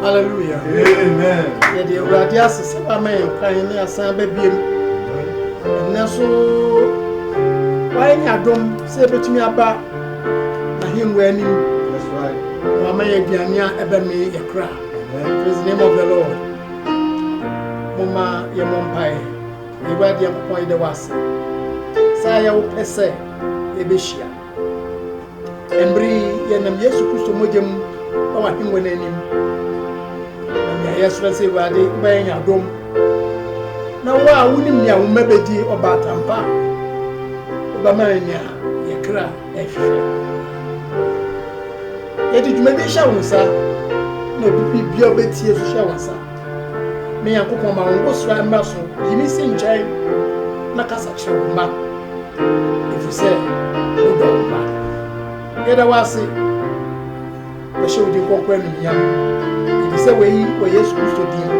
Hallelujah. Amen. Yɛde awurade ase sɛ wama yɛn kwan ne asan bɛbiem. Ɛnnɛ so wayɛ ne adom sɛ yɛbɛtumi aba n'ahengua anim. That's right. Na wama yɛ aduane a ɛbɛmee yɛ kra. Praise the name of the Lord. Momma yɛmmɔ mpae. Awurade Nyankopɔn yɛda wo ase. Saa yɛ wo pɛ sɛ yɛbɛhyia. Ɛmbere yi yɛnam Yesu Kristo mogya mu na w'ahengua no anim. Na nea yɛsrɛ sɛ Awurade wobɛyɛ yɛn adom. Na wo a wonim nea wo mma bɛdi ɔbaatampa wobɛma yɛn nea yɛn kra hwehwɛ. Yɛde dwuma bi hyɛ wo nsa na obi bi bia wobɛtie so hyɛ wo nsa. Me Nyankopɔn ma wo ngosra mmra so, yi me si nkyɛn na kasa kyerɛ wo mma, ɛfiri sɛ wodɔ wo mma. Yɛda wo ase. Yɛhyɛ wo din kronkron anuonyam, efisɛ wei wɔ Yesu Kristo din mu.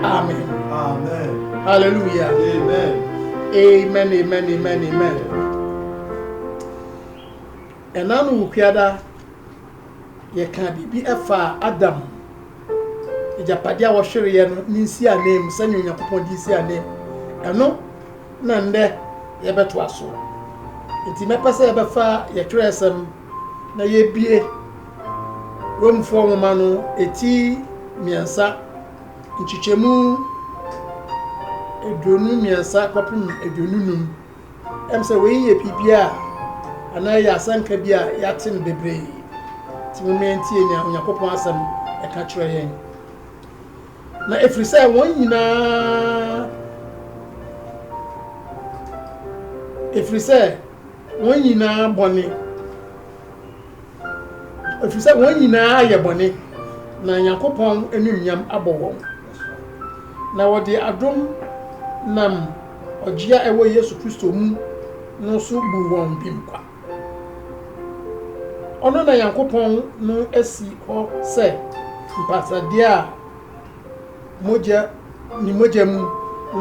Amen. Amen. Hallelujah. Amen. Amen, amen, amen, amen. Ɛna no wo kuada yɛka biribi ɛfa Adam agyapadeɛ a wɔhwereɛ no ne nsi anam sɛnea Onyankopɔn de nsi anam ɛno na nnɛ yɛbɛtoa so nti mɛpɛ sɛ yɛbɛfa yɛtwerɛ asɛm na yɛabue Romfoɔ nwoma no ti mmiɛnsa, nkyekyɛmu aduonu mmiɛnsa kɔpem aduonu nnum. Ɛm sɛ wei yɛ biribi a anaa ɛyɛ asɛnka bi a yɛate no bebree. Nti momma yɛntie nea Onyankopɔn asɛm ɛka kyerɛ yɛn. Na ɛfiri sɛ wɔn nyinaa ɛfiri sɛ Wɔn nyinaa bɔne, ɛfiri sɛ wɔn nyinaa ayɛ bɔne, na Nyankopɔn anuonyam abɔ wɔn. Na wɔde adom nam ɔgye a ɛwɔ Yesu Kristo mu no so buu wɔn bem kwa. Ɔno na Nyankopɔn no asi hɔ sɛ mpatadeɛ a mogya ne mogya mu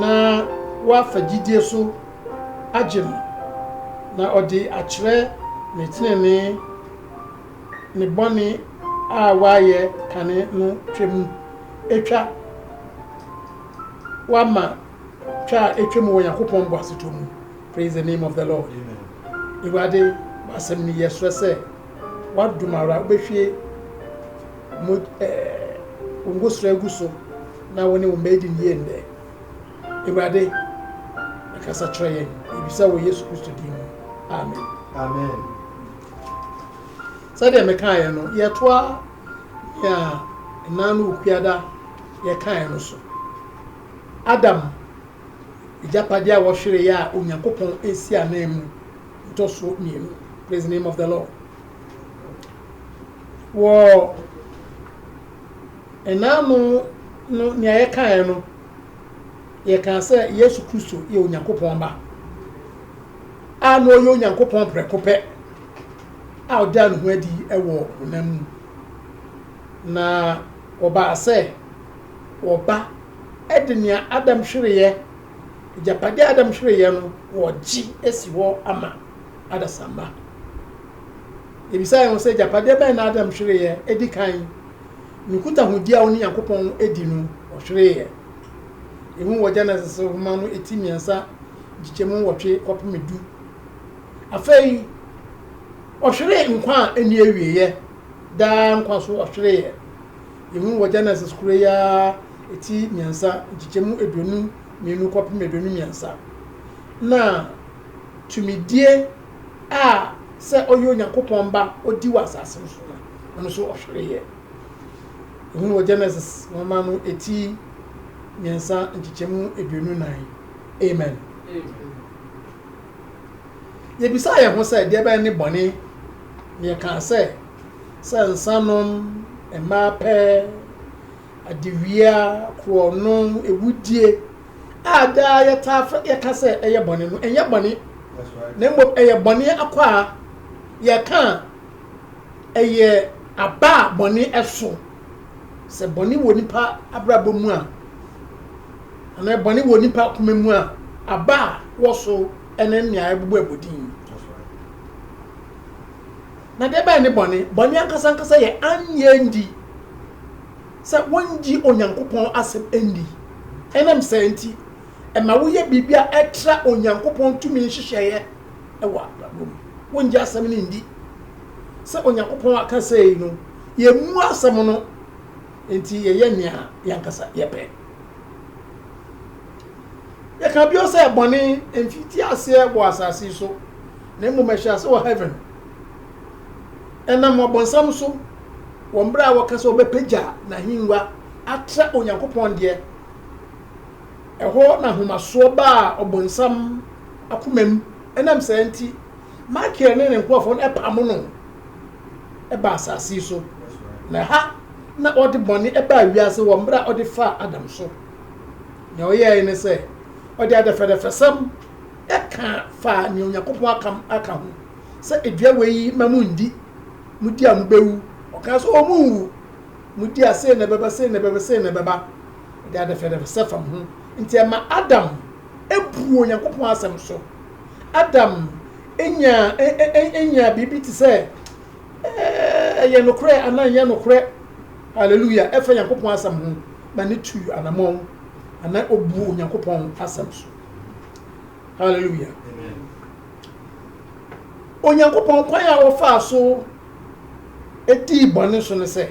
na wɔafa gyidie so agye no, na ɔde akyerɛ ne tenenee, ne bɔne a wayɛ kane no twam. Etwa wama twa a etwa mu wɔ Nyankopɔn boasetɔ mu. Praise the name of the Lord. Awurade, w'asɛm ni yɛsrɛ sɛ w'adom ara wobɛhwie mo ɛɛ eh, wo ngosra agu so na wo ne wo mma adi ne yie nnɛ. Awurade, kasa kyerɛ yɛn. Yɛbisa wɔ Yesu Kristo din mu. Amen. Amen. Sɛdeɛ mekaeɛ no, yɛtoa nea nna no Okuada yɛkaeɛ no so. Adam agyapadeɛ a wɔhwereeɛ a Onyankopɔn asi anan mu ntɔsoɔ mmienu. Praise the name of the Lord. Wɔ nna no no nea yɛkaeɛ no yɛkaa sɛ Yesu Kristo yɛ Onyankopɔn Ba a na ɔyɛ Onyankopɔn prɛko pɛ a ɔdaa ne ho adi wɔ honam mu, na ɔbaa sɛ ɔba de nea Adam hwereeɛ, agyapadeɛ a Adam hwereeɛ no, ɔgye asi hɔ ama adasamma. Ebisa yɛn ho sɛ agyapadeɛ bɛn na Adam hwereeɛ di kan? Nkutahodi a ɔne Nyankopɔn di no, ɔhweree ɛ. Ehu wɔ Genesis nhoma no ti mmiɛnsa nkyekyɛmu nwɔtwe kɔpem du. Afei, ɔhweree nkwa a ɛnni awieeɛ, daa nkwa so ɔhweree ɛ. Ehu wɔ Genesis koro yi ara ti mmiɛnsa nkyekyɛmu aduonu mmienu kɔpem aduonu mmiɛnsa. Na tumidie. a sɛ ɔyɛ Onyankopɔn ba odi wɔ asase no so no, ɔno nso ɔhwere yɛ. Ɛhunu wɔ Genesis nwoma no eti mmiɛnsa nkyekyɛmu aduonu nan. Amen. Yɛbisa yɛn ho sɛ deɛ bɛn ne bɔne na yɛkaa sɛ sɛ nsanom mmaa pɛɛ Adewia, korɔno, awudie a daa yɛtaa frɛ, yɛka sɛ ɛyɛ bɔne no, ɛnyɛ bɔne, na mmom ɛyɛ bɔne akwaa. Yɛka a, ɛyɛ aba a bɔne ɛso. Sɛ bɔne wɔ nipa abrabɔ mu a, anaa bɔne wɔ nipa akoma mu a, aba a wɔ so ɛne nea ɛbobɔ abodin. Na deɛ ɛbɛyɛ ne bɔne, bɔne ankasa ankasa yɛ annye anndi sɛ wɔnngye Onyankopɔn asɛm nndi. Ɛnam saa nti, ɛma woyɛ biribi a ɛtra Onyankopɔn tumi nhyehyɛeɛ wɔ abrabɔ mu. Wonngye asɛm no nndi sɛ Onyankopɔn aka sei no, yɛmmu asɛm no, enti yɛyɛ nea yɛn ankasa yɛpɛ. Yɛka bio sɛ bɔne mmfitiaseɛ wɔ asase so, na mmom ɛhyɛ ase wɔ Heaven. Ɛnam Ɔbonsam so, wɔ mmerɛ a wɔka sɛ wɔbɛpagya n'ahengua atrɛ Onyankopɔn deɛ, ɛhɔ na ahomasoɔ baa Ɔbonsam akoma mu, ɛnam saa nti, Mikael ne ne nkurɔfoɔ no pamo no baa asase yi so, na ɛha na ɔde bɔne baa wiase wɔ mmerɛ a ɔde faa Adam so. Deɛ ɔyɛɛe ne sɛ, ɔde adɛfɛdɛfɛsɛm ka faa nea Onyankopɔn aka aka ho sɛ dua wei yi ma mu ndi, mu di a mu bewu. Ɔkaa sɛ ɔmu nwu, mu di a sei na ɛbɛba, sei na ɛbɛba, sei na ɛbɛba. Ɔde adɛfɛdɛfɛsɛ fam ho. Nti ɛma Adam buu Onyankopɔn asɛm so. Adam nyaa nyaa biribi te sɛ ɛyɛ nokorɛ anaa ɛnyɛ nokorɛ, hallelujah, ɛfa Onyankopɔn asɛm ho, na ne tuu anamɔn anaa ɔbuu Onyankopɔn asɛm so. Hallelujah. Onyankopɔn kwan a wɔfaa so dii bɔne so no sɛ,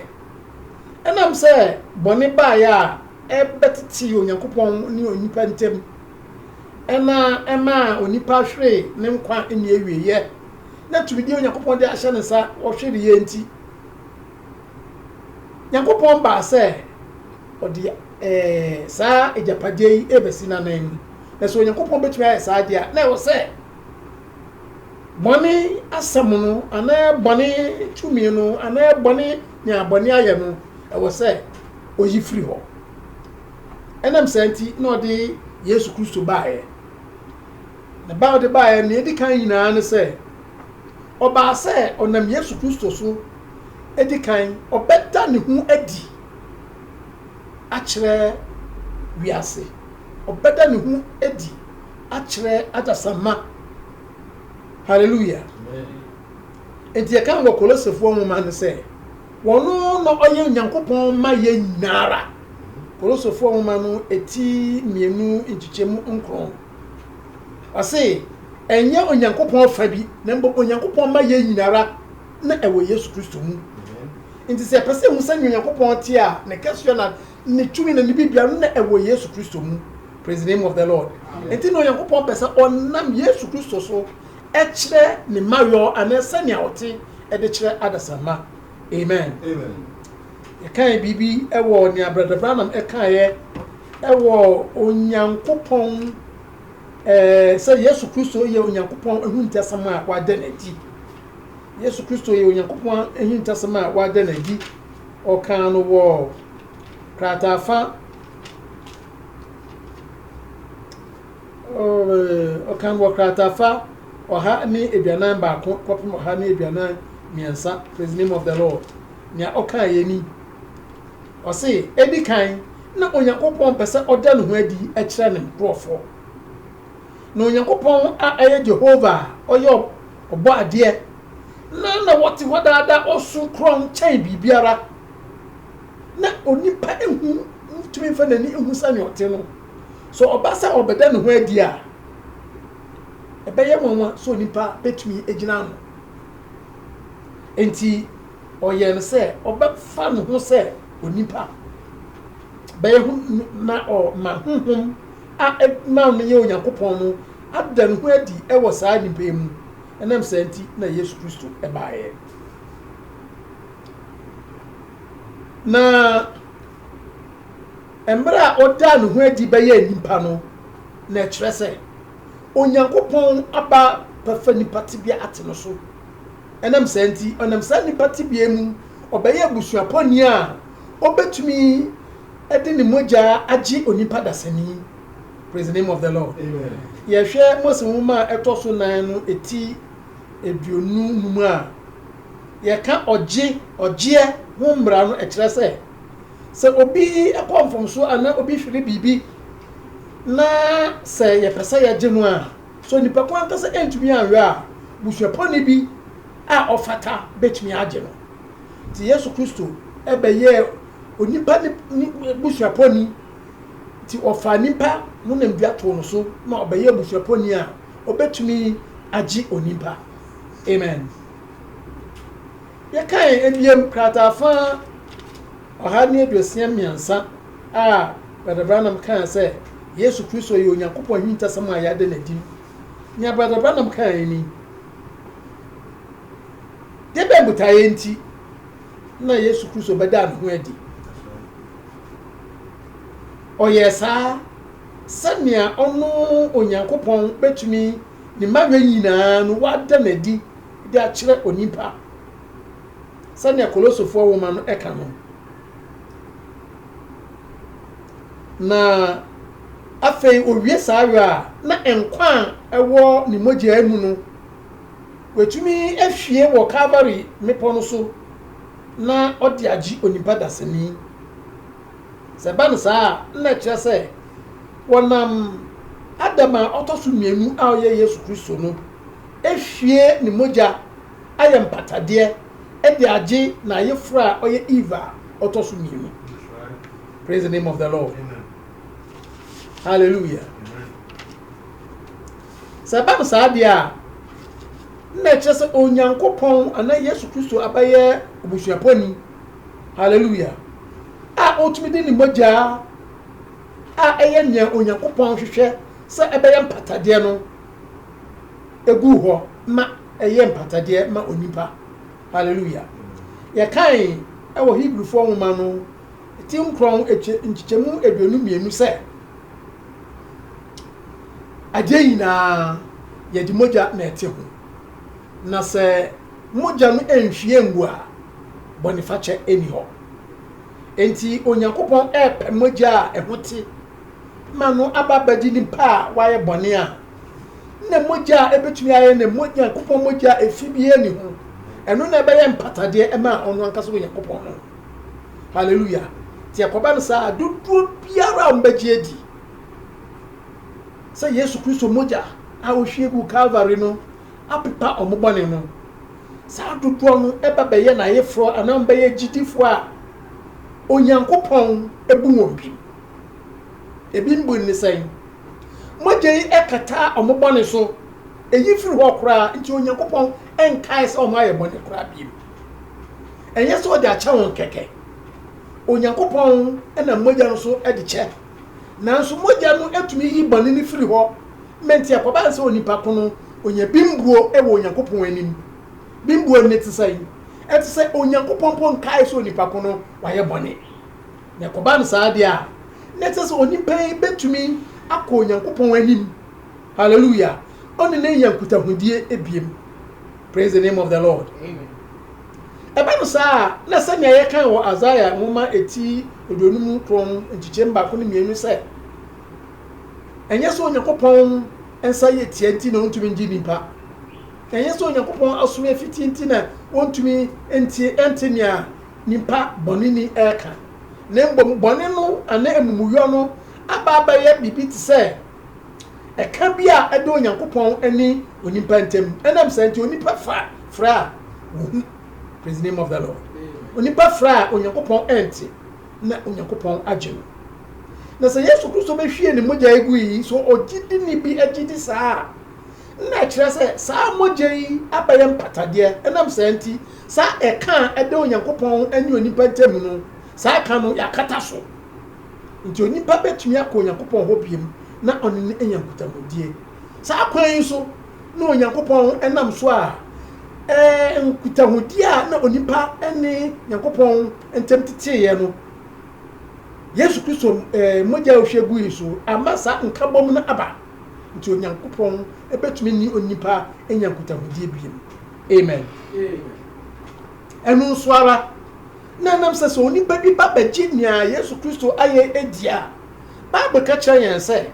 ɛnam sɛ bɔne baeɛ a ɛbɛtetee Onyankopɔn ne onipa ntam ɛna ɛmaa onipa hweree ne nkwa nniawieɛ na tumidie Onyankopɔn de ahyɛ ne nsa wɔhwereeɛ nti, Nyankopɔn baa sɛ ɔde Ɛɛ, saa agyapadeɛ yi rebɛsi no anan. Na sɛ Onyankopɔn bɛtumi ayɛ saa deɛ a, na ɛwɔ sɛ bɔne asɛm no anaa bɔne tumi no anaa bɔne nea bɔne ayɛ no, ɛwɔ sɛ ɔyi firi hɔ. Ɛnam saa nti na ɔde Yesu Kristo baeɛ. Na ba ɔde baeɛ nea ɛdi kan nyinaa ne sɛ ɔbaa sɛ ɔnam Yesu Kristo so ɛdi kan ɔbɛda ne ho adi. akyerɛ wiase, ɔbɛda ne ho adi akyerɛ adasamma. Hallelujah! Enti yɛka wɔ Kolosefoɔ nwoma no sɛ, wɔn na ɔyɛ Onyankopɔn ma yɛn nyinaa ara. Kolosefoɔ nwoma no eti mmienu nkyekyɛmu nkron. Ɔse, ɛnyɛ Onyankopɔn fa bi, na mmom Onyankopɔn ma yɛn nyinaa ara. na ɛwɔ Yesu Kristo mu. Nti sɛ yɛpɛ sɛ yɛhu sɛnea Onyankopɔn te a, ne kɛseɛ na ne tumi na ne biribiara no na ɛwɔ Yesu Kristo mu. Praise the name of the Lord. Nti na Onyankopɔn pɛ sɛ ɔnam Yesu Kristo so ɛkyerɛ ne mayɔ anaa sɛnea ɔte ɛde kyerɛ adasamma. Amen. Amen. Yɛkae biribi ɛwɔ nea Brother Branham ɛkaeɛ ɛwɔ Onyankopɔn ɛɛ sɛ Yesu Kristo yɛ Onyankopɔn ehuntasɛm a wada no adi. Yesu Kristo yɛ Onyankopɔn ahintasɛm a wada no adi. Ɔkaa no wɔ krataafa ɔkaa no wɔ krataafa ɔha ne aduanan baako kɔpem ɔha ne aduanan mmiɛnsa praise name of the lord nea ɔkaa yɛ ni ɔse edi kan na onyankopɔn pɛ sɛ ɔda ne ho adi kyerɛ ne nkurɔfoɔ Na Onyankopɔn a ɛyɛ Jehovah a ɔyɛ Ɔbɔadeɛ no na ɔte hɔ daa daa, ɔso korɔn kyɛn biribiara, na onipa nhu ntumi mfa n'ani nhu sɛnea ɔte no. Sɛ ɔba sɛ ɔbɛda ne ho adi a, ɛbɛyɛ nwanwa sɛ onipa betumi agyina ano. Enti ɔyɛɛ no sɛ ɔbɛfa ne ho sɛ onipa bɛyɛ ho na ɔma honhom a ɛma no yɛ Onyankopɔn no ada ne ho adi wɔ saa nnipa yi mu. Ɛnam saa nti na Yesu Kristo baeɛ. Na mmerɛ a ɔdaa ne ho adi bɛyɛ nnipa no, na ɛkyerɛ sɛ Onyankopɔn aba bɛfa nnipa tebea ate no so. Ɛnam saa nti, ɔnam saa nnipa tebea mu, ɔbɛyɛ abusuapɔni a ɔbɛtumi de ne mogya agye onipa dasani, praise the name of the Lord. Yɛhwɛ Mose nwoma a ɛtɔ so nan no eti aduonu num a, yɛka ɔgye, ɔgyeɛ ho mmara no, ɛkyerɛ sɛ, sɛ obi kɔ mfomsoɔ anaa obi hwere biribi na sɛ yɛpɛ sɛ yɛgye no a, sɛ onipa ko ankasa antumi anhwɛ a, busuapɔni bi a ɔfata bɛtumi agye no. Nti Yesu Kristo bɛyɛɛ onipa ne ne busuapɔni nti ɔfaa nipa no namdua too no so na ɔbɛyɛ abusuapɔni a ɔbɛtumi agye onipa amen yɛkae abiem krataa fa ɔha ne aduosia mmiɛnsa a brada branam kaa sɛ yesu kristo yɛ onyankopɔn ahintasɛm a yɛada no adi nea brada branam kaa ni debɛ mbutaeɛ nti na Yesu Kristo bɛdaa ne ho adi. Ɔyɛɛ saa sɛnea ɔno Onyankopɔn bɛtumi ne mmayɛ nyinaa no wada no adi de akyerɛ onipa. Sɛnea Kolosofoɔ nwoma no ɛka no, na afei owie saa yɔ a na nkwa a ɛwɔ ne mogyaa mu no Watumi ahwie wɔ Kalvary mmepɔ no so na ɔde agye onipa dasani. Sɛ ɛba no saa a, na ɛkyerɛ sɛ wɔnam Adam a ɔtɔ so mmienu a ɔyɛ Yesu Kristo no ahwie ne mogya ayɛ mpatadeɛ de agye n'ayeforo a ɔyɛ Eve a ɔtɔ so mmienu. Praise the name of the Lord. Hallelujah. Sɛ ɛba no saa deɛ a, na ɛkyerɛ sɛ Onyankopɔn anaa Yesu Kristo abɛyɛ obusuapɔni, hallelujah, a ɔtumi de ne mogya a ɛyɛ nea Onyankopɔn hwehwɛ sɛ ɛbɛyɛ mpatadeɛ no egu hɔ ma ɛyɛ mpatadeɛ ma onipa, hallelujah. Yɛkae wɔ Hebrifoɔ nwoma no ti nkorɔn nkyekyɛmu aduonu mmienu sɛ. Adeɛ nyinaa yɛde mogya na ɛte ho, na sɛ mogya no nhwie ngu a, bɔnefakyɛ nni hɔ. Enti Onyankopɔn repɛ mogya a ɛho te ma no aba abɛgye nipa a wayɛ bɔne a na mogya a ɛbɛtumi ayɛ ne Onyankopɔn mogya a ɛfi biara ni ho. Ɛno na ɛbɛyɛ mpatadeɛ ma ɔno ankasa Onyankopɔn no. Hallelujah. Nti ɛkɔba no saa dodoɔ biara a wɔbɛgye adi sɛ Yesu Kristo mogya a ohwie gu Calvary no apepa wɔn bɔne no, saa dodoɔ no ɛba bɛyɛ n'ayeforɔ anaa wɔbɛyɛ gyidifoɔ a Onyankopɔn ebu wɔn bi. Ebi mbu ne sɛn? Mogya yi ɛkataa wɔn bɔne so, eyi firi hɔ koraa nti Onyankopɔn ɛnkae sɛ wɔn ayɛ bɔne koraa bio. ɛnyɛ sɛ ɔde akyɛ wɔn kɛkɛ onyankopɔn na mogya no so de kyɛ nanso mogya no atumi yi bɔne no firi hɔ mɛnti akɔba nsɛ onipa ko no ɔnya bimbuo wɔ onyankopɔn anim bimbuo ne te sɛ ɛte sɛ onyankopɔn mpo nkae sɛ onipa ko no wayɛ bɔne na ɛkɔba no saa deɛ a na ɛte sɛ onipa yi bɛtumi akɔ onyankopɔn anim Hallelujah ɔne no anya nkutahodie ebiem praise the name of the Lord ɛba no saa a na sɛnea yɛkan wɔ Isaiah nwoma eti aduonum kron nkyekyɛm baako ne mmienu sɛ ɛnyɛ sɛ Onyankopɔn nsa yɛ tia nti na ɔntumi ngye nipa ɛnyɛ sɛ Onyankopɔn aso yɛ fiti nti na ɔntumi nti ɛnte nea nipa bɔneni ɛka na mbom bɔne no anaa amumuyɔ no aba abɛyɛ biribi te sɛ ɛka bi a ɛda Onyankopɔn ne onipa ntam. Ɛnam saa nti, onipa fa frɛ a wohu, praise the name of the Lord. Onipa frɛ a Onyankopɔn ɛnte, na Onyankopɔn agye no. Na sɛ Yesu Kristo bɛhwie ne mogya yi gu yi, so ɔgyidi ni bi agye di saa a, na ɛkyerɛ sɛ saa mogya yi abɛyɛ mpatadeɛ. Ɛnam saa nti, saa ɛka a ɛda Onyankopɔn ne onipa ntam no, saa ɛka no yɛakata so. Enti onipa bɛtumi akɔ Onyankopɔn hɔ biom na ɔne no anya nkutamudie. Saa kwan yi so na Onyankopɔn nam so a ɛɛ nkutahodie a na onipa ne Nyankopɔn ntam teteeɛ no, Yesu Kristo ɛɛ mogya a ɔhwie gui so ama saa nkabom no aba. Nti Onyankopɔn bɛtumi ne onipa anya nkutahodie biom. Amen. Amen. Ɛno nso ara, na ɛnam sɛ sɛ onipa bi ba bɛgye nea Yesu Kristo ayɛ adi a, Bible ka kyerɛ yɛn sɛ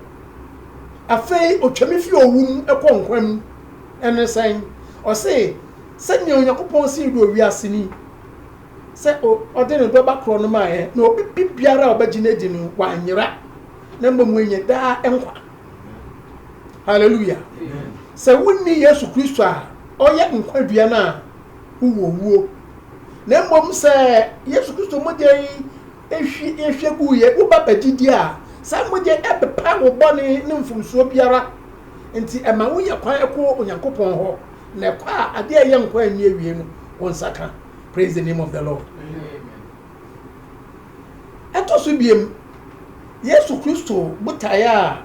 afei otwam fi owu mu kɔ nkwa mu. Ɛne sɛn? Ɔse, Sɛnea Onyankopɔn sii dɔ wiase ni, sɛ ɔde ne dɔ ba korɔ no maeɛ, na obi bi biara a ɔbɛgye no adi no, wanyera, na mmom wanya daa nkwa. Hallelujah! Sɛ wonni Yesu Kristo a ɔyɛ nkwa dua no a, ho wɔ wuo, na mmom sɛ Yesu Kristo mogya yi hwi yɛhwɛ guu yɛ woba bɛgyedie a, saa mogya yi ɛbɛpa wo bɔne ne mfomsoɔ biara, nti ɛma wonya kwan ɛkɔ Onyankopɔn hɔ, na ɛkɔ a adeɛ a ɛyɛ nkwa a ɛnni awie no wo nsa ka. Praise the name of the Lord. Ɛtɔ so biem, Yesu Kristo botaeɛ a.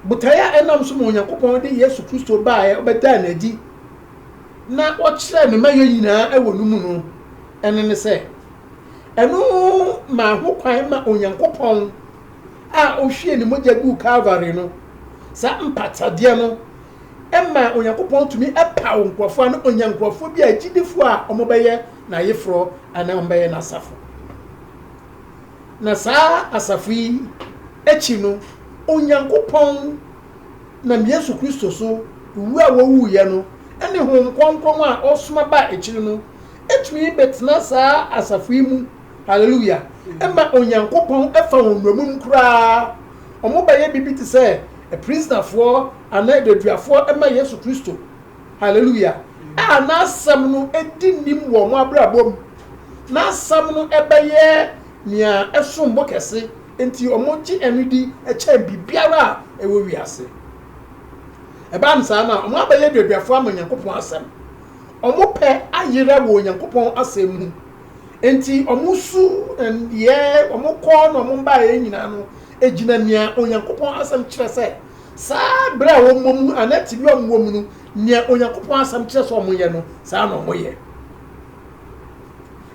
Botae a ɛnam so ma Onyankopɔn de Yesu Kristo baeɛ, ɔbɛdaa no adi, na ɔkyerɛɛ ne mayɛ nyinaa wɔ no mu no, ɛno ne sɛ, ɛno maa ho kwan ma Onyankopɔn a ɔhwie ne mogya guu Kalvary no, saa mpatadeɛ no, ɛma Onyankopɔn tumi paw nkurɔfoɔ ano, ɔnya nkurɔfoɔ bi a agyidifoɔ a wɔbɛyɛ n'ayeforɔ anaa wɔbɛyɛ n'asafo. Na saa asafo yi akyi no, Onyankopɔn nam Yesu Kristo so wu a ɔwuiɛ no ne Honhom Kronkron a ɔsoma baa akyiri no tumi bɛtena saa asafo yi mu, Hallelujah, ɛma Onyankopɔn fa wɔn nnommum koraa, wɔbɛyɛ biribi te sɛ aprisonafoɔ anaa adaduafoɔ ma Yesu Kristo. Hallelujah! A n'Asɛm no di nnim wɔ wɔn abrabɔ mu. N'Asɛm no bɛyɛ nea ɛsom bo kɛse, enti wɔgye ɛno di kyɛn biribiara a ɛwɔ wiase. Ɛba no saa no a, wɔabɛyɛ nneduafo ama Onyankopɔn Asɛm. Wɔn pɛ ayera wɔ Onyankopɔn Asɛm mu, enti wɔn su nneyɛe, wɔn kɔ na wɔn baeɛ nyinaa no gyina nea Onyankopɔn Asɛm kyerɛ sɛ Saa bere a wɔmmɔ mu anaa tebea a wɔwɔ mu no, nea Onyankopɔn Asɛm kyerɛ sɛ wɔyɛ no, saa na wɔyɛ.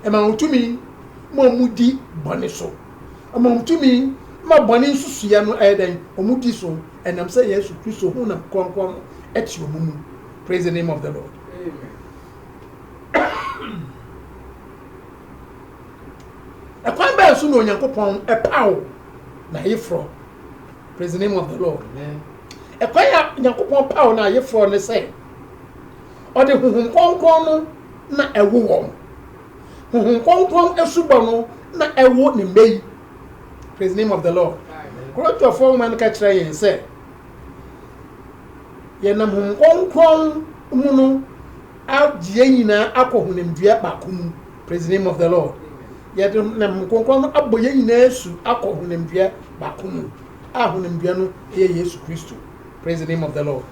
Ɛma wɔn tumi ma wɔdi bɔne so. Ɛma wɔn tumi ma bɔne nsusuiɛ no ɛyɛ dɛn? Wɔdi so ɛnam sɛ Yesu Kristo honam kronkron no te wɔn mu. Praise the name of the Lord. Ɛkwan bɛn so na Onyankopɔn paw n'ayeforɔ? Praise the name of the Lord. Amen. Ɛkwan a Nyankopɔn paw no ayeforɔ ne sɛ ɔde honhom kronkron no na ɛwo wɔn. Honhom kronkron asubɔ no na ɛwo ne mma yi. Praise the name of the Lord. Korintofoɔ nwoma no ka kyerɛ yɛn sɛ yɛnam honhom kronkron mu no agye yɛn nyinaa akɔ honamdua baako mu. Praise the name of the Lord. Yɛde nam Honhom Kronkron no abɔ yɛn nyinaa asu akɔ honamdua baako mu, a honamdua no yɛ Yesu Kristo. Praise the name of the Lord.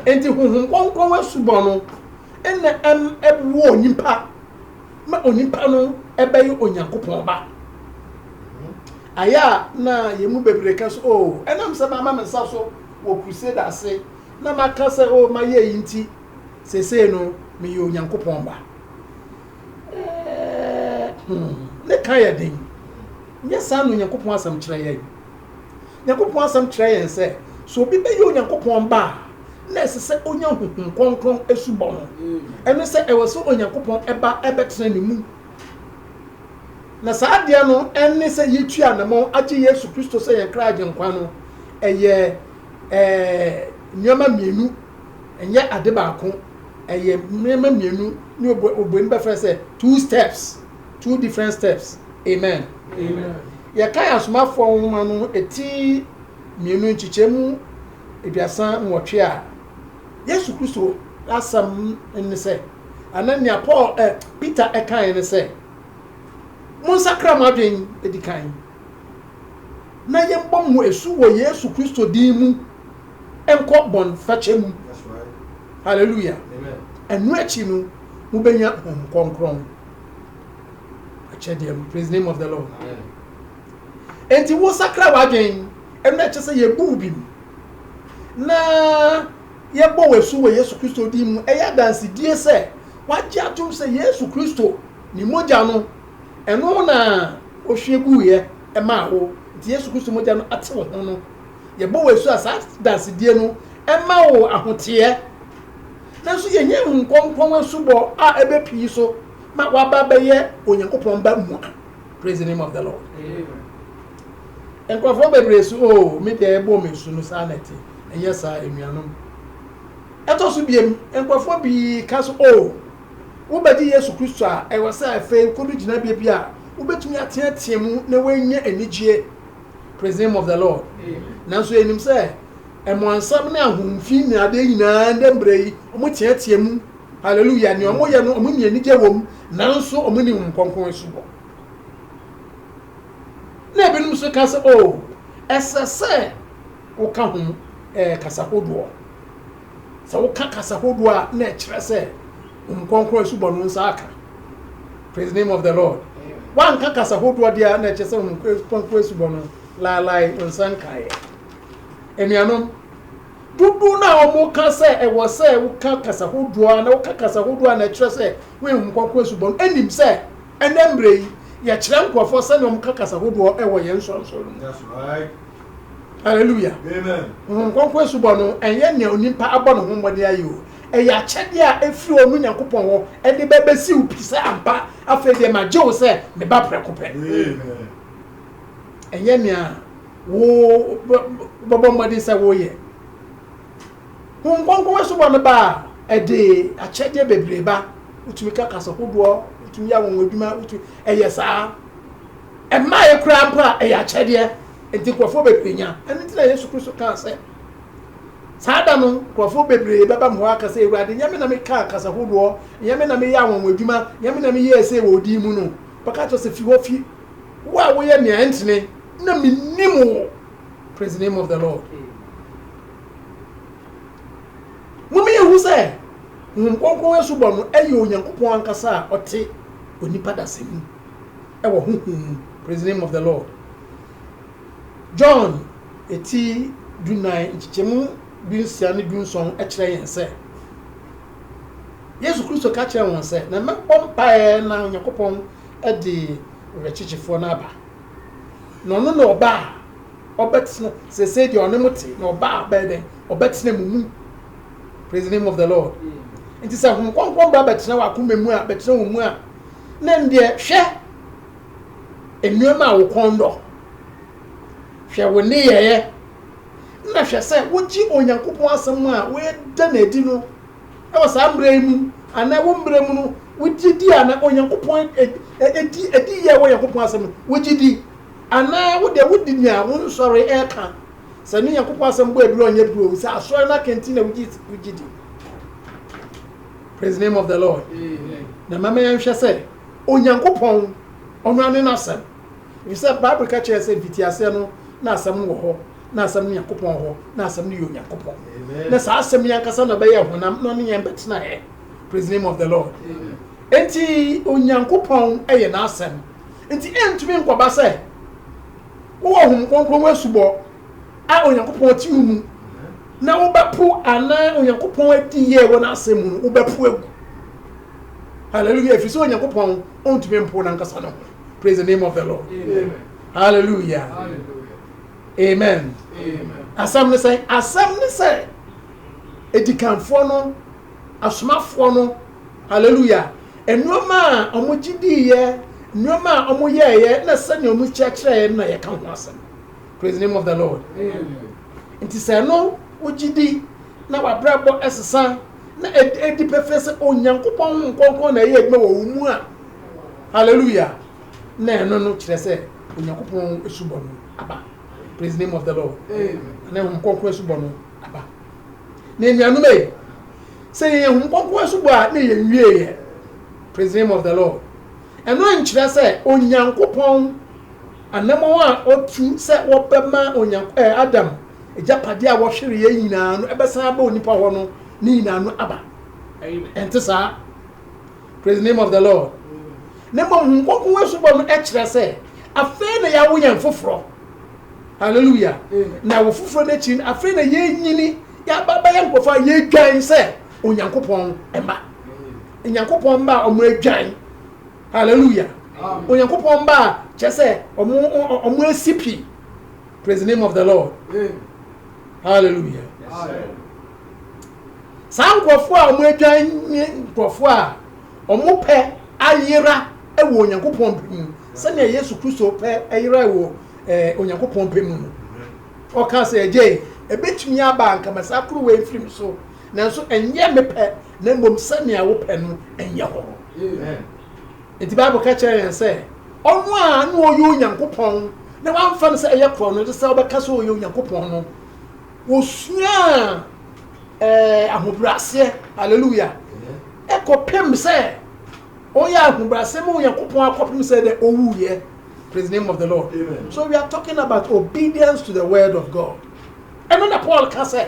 Enti Honhom Kronkron asubɔ no ɛna ɛm ɛboɔ onipa ma onipa no ɛbɛyɛ Onyankopɔn ba. Ayɛ a na yɛn mu bebree ka so, oh, ɛnam sɛ mama me nsa so wɔ crusade ase na maka sɛ, oh, mayɛ yi nti, sesei no meyɛ Onyankopɔn ba. Ne ka yɛ den. Nyɛ saa na Onyankopɔn asɛm kyerɛ yɛn. Nyankopɔn asɛm kyerɛ yɛn sɛ, sɛ obi bɛyɛ Onyankopɔn ba a, na ɛsɛ sɛ onya Honhom Kronkron asubɔ no. Ɛne sɛ, ɛwɔ sɛ Onyankopɔn ba bɛtena ne mu. Na saa adeɛ no ne sɛ yɛatu anammɔn agye Yesu Kristo sɛ yɛn kra Agyenkwa no. Ɛyɛ ɛɛ nneɛma mmienu. Ɛnyɛ ade baako, ɛyɛ nneɛma mmienu ne obu obuani bɛfrɛ sɛ two steps, two different steps. Amen. Amen. Yɛkan Asomafoɔ nwoma no ti mmienu nkyekyɛmu aduasa nwɔtwe a, Yesu Kristo asɛm ne sɛ, anaa nea Paul ɛ, Peter kaeɛ ne sɛ, Monsakra mo adwene di kan. na yɛbɔ mo asu wɔ Yesu Kristo din mu nkɔ bɔnfakyɛ mu. Hallelujah. Ɛno akyi no, mobɛnya Honhom Kronkron. Akyɛdeɛ no, praise the name of the Lord. Enti wosakra w'adwen, ɛno na ɛkyɛ sɛ yɛbu wo bim. Na yɛbɔ wo asu wɔ Yesu Kristo din mu, ɛyɛ adansedie sɛ wagye atom sɛ Yesu Kristo ne mogya no Ɛno na ohwie guiɛ maa wo, nti Yesu Kristo mogya no ate wo ho no, yɛbɔ wo asu a saa dansedie no mma wo ahoteɛ. Nanso yɛnya Honhom Kronkron asubɔ a ɛbɛ pii so ma woaba abɛyɛ Onyankopɔn ba mua. Praise the name of the Lord. Amen. Nkurɔfoɔ bebree so, oh, me deɛ ɛbɔ me asu no saa na ɛte. Ɛnyɛ saa, anuanom. Ɛtɔ so biem, nkurɔfoɔ pii ka so, oh, wobɛgye Yesu Kristo a, ɛwɔ sɛ afei kodu gyinabea bi a wobɛtumi ateatea mu na woanya anigyeɛ, Praise the name of the Lord. Nanso yɛnim sɛ ɛmoansɛm ne ahomfi ne adeɛ nyinaa ndɛ mberɛ yi wɔteatea mu, Hallelujah, nea wɔyɛ no wɔnni anigyeɛ wɔ mu, nanso wɔnni Honhom Kronkron asubɔ. Na ebinom nso ka sɛ, oh, ɛsɛ sɛ woka ho kasa hodoɔ. Sɛ woka kasa hodoɔ a na ɛkyerɛ sɛ Honhom Kronkron asubɔ no nsa aka. Praise the name of the Lord. Woanka kasa hodoɔ deɛ a na ɛkyerɛ sɛ Honhom Kronkron asubɔ no laelae wo nsa nkaeɛ. Anuanom, dodoɔ no a wɔka sɛ ɛwɔ sɛ woka kasa hodoɔ a na woka kasa hodoɔ a na ɛkyerɛ sɛ woyɛ Honhom Kronkron asubɔ no nim sɛ Ɛnnɛ mmerɛ yi, yɛkyerɛ nkorɔfoɔ sɛdeɛ wɔka kasa hodoɔ wɔ yɛn nsonsono no mu. Halleluya! Honhom Kronkron asubɔ no, ɛnyɛ nea onipa abɔ ne ho mmɔden ayɛ o. Ɛyɛ akyɛdeɛ a ɛfiri ɔno Nyankopɔn hɔ de ba bɛsi wo pi sɛ ampa, afei deɛ magye wo sɛ me ba prɛko pɛ. Ɛnyɛ nea wobɛbɔ mmɔden sɛ woreyɛ. Honhom Kronkron asubɔ no ba a, ɛde akyɛdeɛ bebree ba. Wotumi ka kasa hodoɔ, wotumi yɛ anwanwa adwuma, wotumi ɛyɛ saa. Mmaeɛ koraa mpo a, ɛyɛ akyɛdeɛ. Nti nkurɔfoɔ bebree nya. Ɛno nti na Yesu Kristo kaa sɛ, saa da no nkurɔfoɔ bebree bɛba me hɔ aka sɛ, Awurade, nyɛ me na mekaa kasa hodoɔ, nyɛ me na meyɛ anwanwa adwuma, nyɛ me na meyɛɛ sei wɔ wo din mu no? Bɛka kyerɛ sɛ, Fi hɔ, fi, wo a woyɛ nea ɛntene, na mennim wo. Praise the name of the Lord. Mome yɛhu sɛ Honhom Kronkron asubɔ no ɛyɛ Onyankopɔn ankasa a ɔte onipa dasa mu ɛwɔ honhom mu. Praise the name of the Lord. John eti dunan nkyekyɛmu dunsia ne dunson ɛkyerɛ yɛn sɛ Yesu Kristo ka kyerɛ wɔn sɛ na mɛbɔ mpaeɛ na Onyankopɔn ɛde werɛkyekyefoɔ no aba. Na ɔno na ɔba a ɔbɛtena, sɛsɛi deɛ ɔne mo te, na ɔba a ɔbɛyɛ dɛn, ɔbɛtena mo mu. Praise the name of the Lord. Nti sɛ Honhom Kronkron ba bɛtena wɔ akoma mu a, bɛtena wo mu a, na ndeɛ hwɛ nneɛma a wo kɔn dɔ, hwɛ wo nneyɛeɛ, na hwɛ sɛ wogye Onyankopɔn asɛm a woda no adi no wɔ saa mmerɛ yi mu anaa ɛwɔ mmerɛ mu no, wo gye di a na Onyankopɔn ɛdi ɛdi yɛ wɔ Onyankopɔn asɛm no, wo gye di anaa wo deɛ wo di nea wo nsɔre ɛka, sɛ ne Onyankopɔn asɛm bɔ aduro ɔnyɛ duro, sɛ asɔre no aka nti na wo gye wo gye di. Praise the name of the Lord. Amen. Na mama yɛn hwɛ sɛ Onyankopɔn ɔno ane n'asɛm. Efisɛ Bible ka kyerɛ sɛ mfitiaseɛ no na asɛm no wɔ hɔ. na asɛm no nyankopɔn hɔ na asɛm no yɛ onyankopɔn na saa asɛm yi ankasa na bɛyɛ honam na ɔne yɛn bɛtena ɛ praise name of the lord nti onyankopɔn yɛ n'asɛm nti ɛntumi nkɔba sɛ wowɔ hom kronkron ho asubɔ a onyankopɔn te wo mu na wobɛpo anaa onyankopɔn adi yɛ wɔ n'asɛm mu no wobɛpo agu hallelujah ɛfiri sɛ onyankopɔn ɔntumi mpo nankasa no praise the name of the lord hallelujah, hallelujah. amen asɛm ne sɛ asɛm ne sɛ edikanfoɔ no asomafoɔ no hallelujah nneɛma a wɔn gye diiɛ nneɛma a wɔn yɛɛyɛ na sɛnea wɔn kyerɛkyerɛɛ na yɛka ho asɛm praise the name of the lord nti sɛ ɛno wogye di na wabrabɔ ɛsesa na ɛdi pɛfɛ sɛ onyankopɔn ho nkɔnkɔn na ɛyɛ adwuma wɔ wo mu a hallelujah na ɛno no kyerɛ sɛ Onyankopɔn asubɔ no aba. Praise the name of the Lord. Na Honhom Kronkron asubɔ no aba. Na anuanom ei, sɛ yɛyɛ Honhom Kronkron asubɔ a na yɛn wie yɛ. Praise the name of the Lord. Ɛno nkyerɛ sɛ Onyankopɔn anamɔn a ɔtu sɛ wɔbɛma Onyankopɔn eh, Adam agyapadeɛ a wɔhwere yɛn nyinaa no ɛbɛsan aba onipa hɔ no ne nyinaa no aba. Ɛnte saa. Praise the name of the Lord. na mmom Honhom Kronkron asubɔ no kyerɛ sɛ afei na yɛawo yɛn foforɔ. Hallelujah. Na ɛwɔ foforɔ no akyiri no, afei na yɛnyini, yɛaba bɛyɛ nkurɔfoɔ a yɛdwan sɛ Onyankopɔn mma. Onyankopɔn mma a wɔn adwan. Hallelujah. Onyankopɔn mma a kyerɛ sɛ wɔn asi pi. Praise the name of the Lord. Hallelujah. Saa nkurɔfoɔ a wɔn adwan nye nkurɔfoɔ a Wɔn pɛ ayera wɔ Onyankopɔn pɛ mu, sɛnea Yesu Kristo pɛ yerae wɔ Onyankopɔn pɛ mu no. Ɔkaa sɛ, Agya ei, ɛbɛtumi aba a anka ma saa kuruwa yi mfiri me so, nanso ɛnyɛ me pɛ na mmom sɛnea wo pɛ no nyɛ hɔ. Enti Bible ka kyerɛ yɛn sɛ ɔno a na ɔyɛ Onyankopɔn na wamfa no sɛ ɛyɛ korɔno, ɛsɛ sɛ ɔbɛka sɛ ɔyɛ Onyankopɔn no. Wɔsuaa ɛɛ ahobrɛaseɛ, hallelujah, ɛkɔpem sɛ ɔyɛ ahobrɛaseɛ ma Onyankopɔn akɔpem sɛ dɛ ɔwuiɛ. Praise the name of the Lord. Amen. So we are talking about obedience to the word of God. Ɛno na Paul ka sɛ,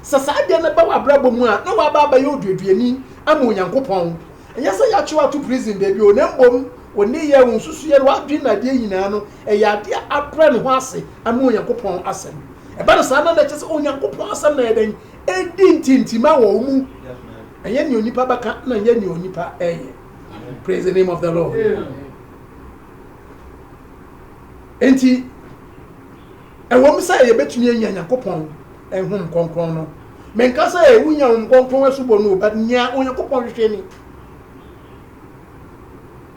sɛ saa deɛ no ba w'abrabɔ mu a, na waba abɛyɛ oduaduani ama Onyankopɔn. Ɛnyɛ sɛ yɛakyew ato prison baabi o, na mmom wo nneyɛe, wo nsusuiɛ, ne w'adwene na adeɛ nyinaa no, ɛyɛ adeɛ a abrɛ ne ho ase ama Onyankopɔn Asɛm. Ɛba no saa no a, na ɛkyerɛ sɛ Onyankopɔn Asɛm na ɛyɛ dɛn? Ɛredi ntintima wɔ wo mu. Ɛnyɛ nea onipa bɛka na ɛnyɛ nea onipa reyɛ. Praise the name of the Lord. Enti, Ɛwom sɛ yebetumi anya Nyankopɔn honhom kronkron no, menka sɛ wunya honhom kronkron asubɔ no o, but nea Onyankopɔn hwehwɛ ni.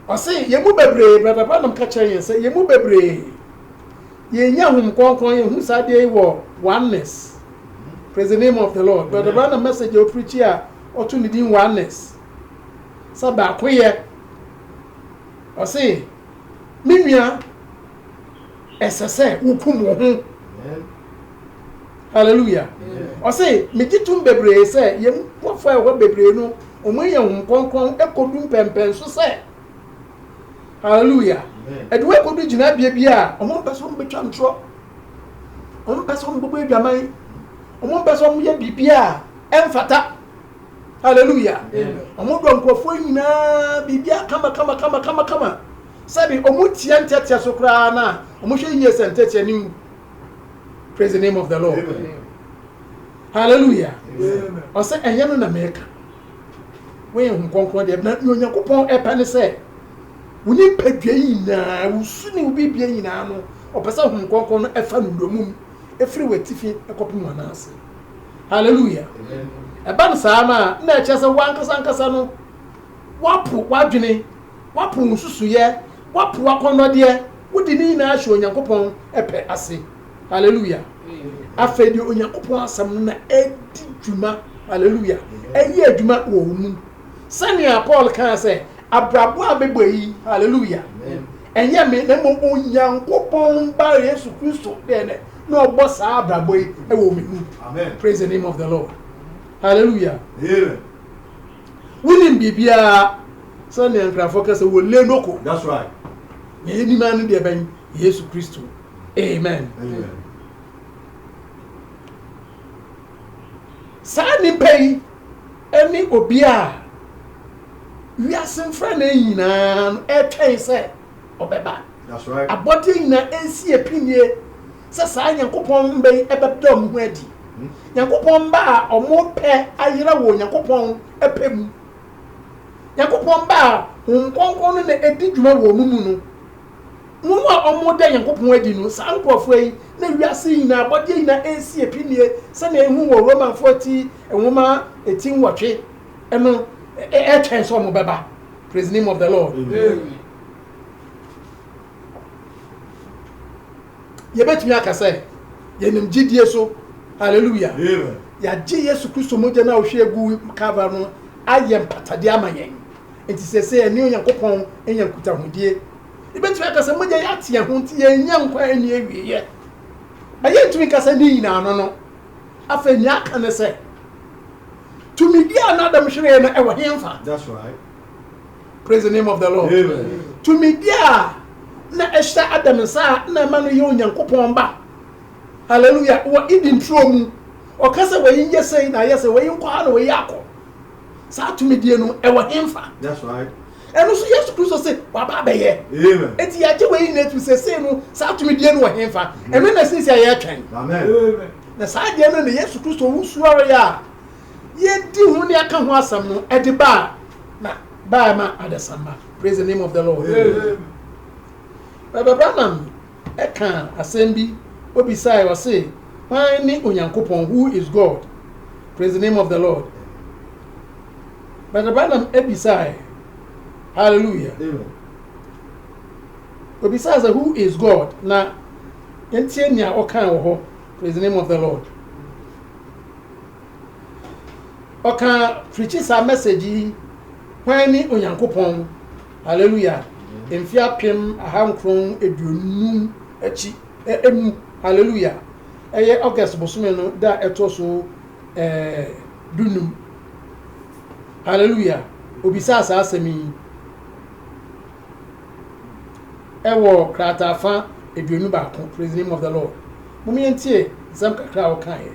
Ɔse yɛn mu bebree, Brada Branham ka kyerɛɛ yɛn sɛ yɛn mu bebree yɛnnya honhom kronkron, yɛhu saa adeɛ yi wɔ Oneness, Praise the name of the Lord, Brada Branham message a ɔpirikyi a ɔto ne din Oneness, sɛ baakoyɛ, ɔse, Me nua, ɛsɛ sɛ wokum wo ho hallelujah ɔse megye tom bebree sɛ yɛn nkurɔfoɔ a ɛhɔ bebree no wɔn ayɛ hom kɔnkɔn ɛkɔdu mpɛmpɛn so sɛ hallelujah ɛde wɔn ɛkɔdu gyinabea bi a wɔn mpɛ sɛ wɔn bɛtwa ntorɔ wɔn mpɛ sɛ wɔn bɛbɔ adwaman wɔn mpɛ sɛ wɔn yɛ biribi a ɛmfata hallelujah wɔn dɔ nkurɔfoɔ nyinaa biribi a kama kama kama kama kama Sɛbi ɔmo tia nteɛteɛ so koraa na ɔmo hwɛ yie sɛ nteɛteɛ no nwu. Praise the name of the Lord. Hallelujah. Ɔsɛ ɛnyɛ no na mɛka. Wɔyɛ Honhom Kronkron deɛ na nea Onyankopɔn ɛpɛ ne sɛ wo nipadua nyinaa, wo su ne wo biribiara nyinaa no, ɔpɛ sɛ Honhom Kronkron no ɛfa no wura mu ɛfiri w'atifi ɛkɔpem w'anan ase. Hallelujah. Ɛba no saa no a, na ɛkyerɛ sɛ w'ankasa ankasa no, woapo w'adwene Woapo wo nsusuiɛ, woapo w'akɔnnɔdeɛ, wode ne nyinaa ahyɛ Onyankopɔn pɛ ase. Hallelujah! Afei deɛ Onyankopɔn asɛm no na ɛdi dwuma, hallelujah, ɛyɛ adwuma wɔ wo mu. Sɛnea Paul kaa sɛ, Abrabɔ a mebɔ yi, hallelujah, ɛnyɛ me na mmom Onyankopɔn Ba Yesu Kristo deɛ nɛ na ɔbɔ saa abrabɔ yi wɔ me mu. Praise the name of the Lord. Hallelujah. Amen. Wonim biribiara sɛnea Nkrafoɔ ka sɛ wɔle no ko. That's right. Nea yɛnim ara ne deɛ bɛn? Yesu Kristo. Amen. Amen. Saa nnipa yi ne obi a wiase mfrane nyinaa no ɛretwɛn sɛ ɔbɛba. That's right. Abɔdeɛ nyinaa ɛresi apinnie. sɛ saa Nyankopɔn mba yi bɛda wɔn ho adi, Nyankopɔn mba a wɔrepɛ ayera wɔ Onyankopɔn pɛ mu, Nyankopɔn mba a Honhom Kronkron no na edi dwuma wɔ wɔn mu no. Wɔn a wɔreda Nyankopɔn adi no, saa nkorɔfoɔ yi na wiase yi nyinaa abɔdeɛ nyinaa resi apinie sɛdeɛ yɛhu wɔ Romanfoɔ ti nwoma ti nwɔtwe no ɛretwɛn sɛ wɔbɛba. Praise the name of the Lord. Amen. yɛbɛtumi aka sɛ yɛnam gyidie so, hallelujah, yɛagye Yesu Kristo mogya no a ɔhwie gu Calvary no ayɛ mpatadeɛ ama yɛn. Nti sɛ sɛ yɛne Onyankopɔn anya nkutahodie, yɛbɛtumi aka sɛ mogya yɛ ate yɛn ho nti yɛnya nkwa a ɛnni awieɛ. Na yɛntumi nka sɛ ne nyinaa no no. Afei nea aka ne sɛ, tumidie a na Adam hweree no ɛwɔ hemfa? That's right. Praise the name of the Lord. Amen. Tumidi a na ɛhyɛ Adam nsa a na ɛma no yɛ Onyankopɔn ba. Hallelujah. Wɔ Eden turo mu. Ɔka sɛ wɔyi nyɛ sɛi na ayɛ sɛ wɔyi nkɔ ha na wɔyi akɔ. Saa tumidie no ɛwɔ hemfa. That's right. Ɛno nso Yesu Kristo se waba abɛyɛ. Amen. Eti yɛagye wɔyi nyinaa tu sɛ sei no saa tumidie no wɔ hemfa. Ɛno na sisi a yɛretwɛn. Amen. Na saa deɛ no na Yesu Kristo wusuareɛ a yɛadi ho ne aka ho asɛm no de baa na baa ma adesamma praise the name of the lord baba branham ɛka asɛm bi obisae ɔse hwan ne onyankopɔn who is god praise the name of the lord baba branham abisae hallelujah obisae sɛ who is god na yɛntie nea ɔkan wɔ hɔ Praise the name of the Lord. Ɔka preachi saa message yi hwan ne Onyankopɔn. Hallelujah. Mfe apem aha nkron aduonum akyi emu. Hallelujah. Ɛyɛ August bosome no da ɛtoɔ so ɛɛ dunum. Hallelujah. Obisaa saa asɛm yi. wɔ krataa fã aduonu baako, Praise the Name of the Lord. Mom yɛntie nsɛm kakra a wɔkaeɛ.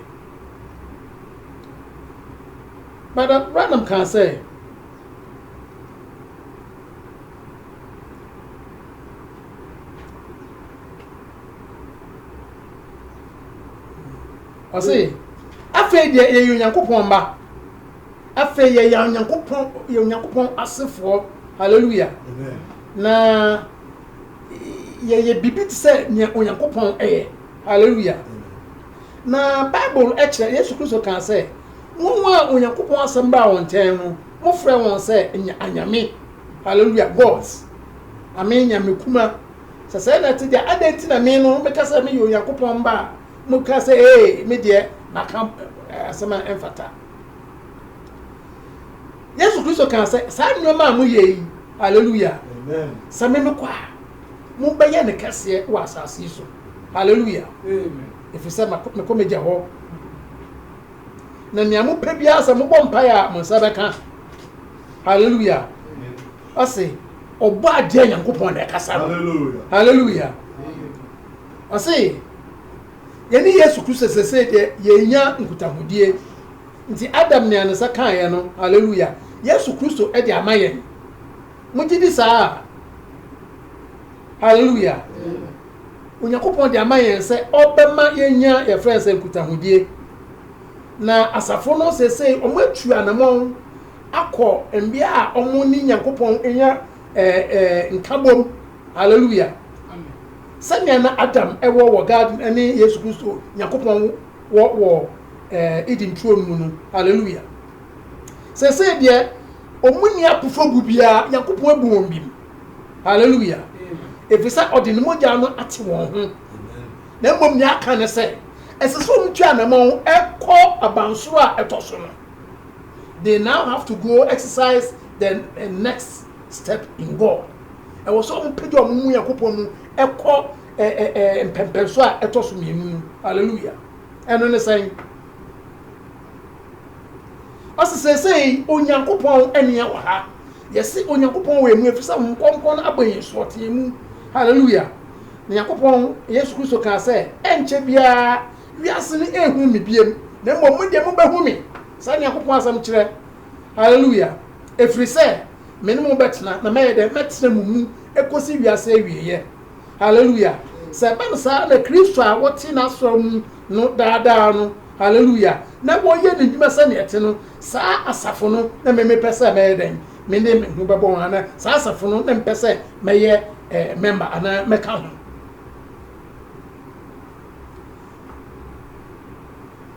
Brother Branham kaa sɛ, ɔse afei deɛ yɛyɛ Onyankopɔn mma. Afei yɛyɛ Onyankopɔn, yɛ Onyankopɔn asefoɔ. Hallelujah. Amen. Na yɛyɛ biribi te sɛ nea Onyankopɔn yɛ. Hallelujah. Na Bible kyerɛ Yesu Kristo kaa sɛ, wɔn a Onyankopɔn asɛm baa wɔn nkyɛn no, mofrɛ wɔn sɛ anyame. Hallelujah. Gods. Ame nyame kuma. Sɛ sɛ na ɛte deɛ, adɛn nti na me no meka sɛ meyɛ Onyankopɔn mba a, moka sɛ ee, me deɛ maka eh, asɛm a ɛmfata. yesu kristo kaa sɛ saa nneɛma a moyɛ yi hallelujah sɛ me mekɔ a mobɛyɛ ne kɛseɛ wɔ asase yi so hallelujah ɛfiri sɛ mekɔ megya hɔ na nea mopɛ biara sɛ mobɔ mpaeɛ a mo nsa bɛka hallelujah ɔse ɔbɔ adeɛ nyankopɔn na ɛkasa no hallelujah ɔse Yɛne Yesu Kristo seesei deɛ yɛrenya nkutahodie. Nti Adam ne Anesa kaeɛ no, Hallelujah, Yesu Kristo de ama yɛn. Mogye di saa a? Hallelujah. Onyankopɔn de ama yɛn sɛ ɔbɛma yɛnya yɛfrɛ no sɛ nkutahodie. Na asafo no seesei wɔn atu anamɔn akɔ mbea a wɔn ne Nyankopɔn nya eh, eh, nkabom. Hallelujah. Sɛnea na Adam wɔ wɔ Garden ne Yesu Kristo, Nyankopɔn, wɔ wɔ Eden turo no mu no. Hallelujah! Seesei deɛ, wɔn nni apofobu biara, Nyankopɔn abu wɔn bem. Hallelujah! Ɛfiri sɛ ɔde ne mogya no ate wɔn ho. Na mmom nea aka ne sɛ, ɛsɛ sɛ wɔn twa anamɔn ɛkɔ abansoro a ɛtɔ so no. They now have to go exercise the next. Step in God. Ɛwɔ sɛ wɔpagya wɔn mu Nyankopɔn mu kɔ ɛ ɛ ɛ mpɛmpɛnso a ɛtɔ so mmienu mu. Hallelujah. Ɛno ne sɛn? Ɔsi seesei Onyankopɔn ɛne yɛn wɔ ha. Yɛsi Onyankopɔn wɔ emu efi sɛ Honhom Kronkron no abɔ yɛn soɔteɛ mu. Hallelujah. Na Nyankopɔn Yesu Kristo kaa sɛ, ɛnkyɛ biara wiase no ehunu me biem, na mmom mo deɛ mobɛhu me. Saa Nyankopɔn asɛm kyerɛ. Hallelujah. Ɛfiri sɛ me ne mo bɛtena, na mɛyɛ dɛn? Mɛtena mo mu kɔsi wiase awieeɛ. Haleluia! Sɛ ɛba no saa na Kristo a wɔte n'asɔre mu no daa daa no, haleluia, na wɔyɛ ne nnwuma sɛdeɛ ɛte no, saa asafo no na me mepɛ sɛ mɛyɛ dɛn? Me de me ho bɛbɔ ho, anaa saa asafo no na mepɛ sɛ mɛyɛ mɛmba anaa mɛka ho.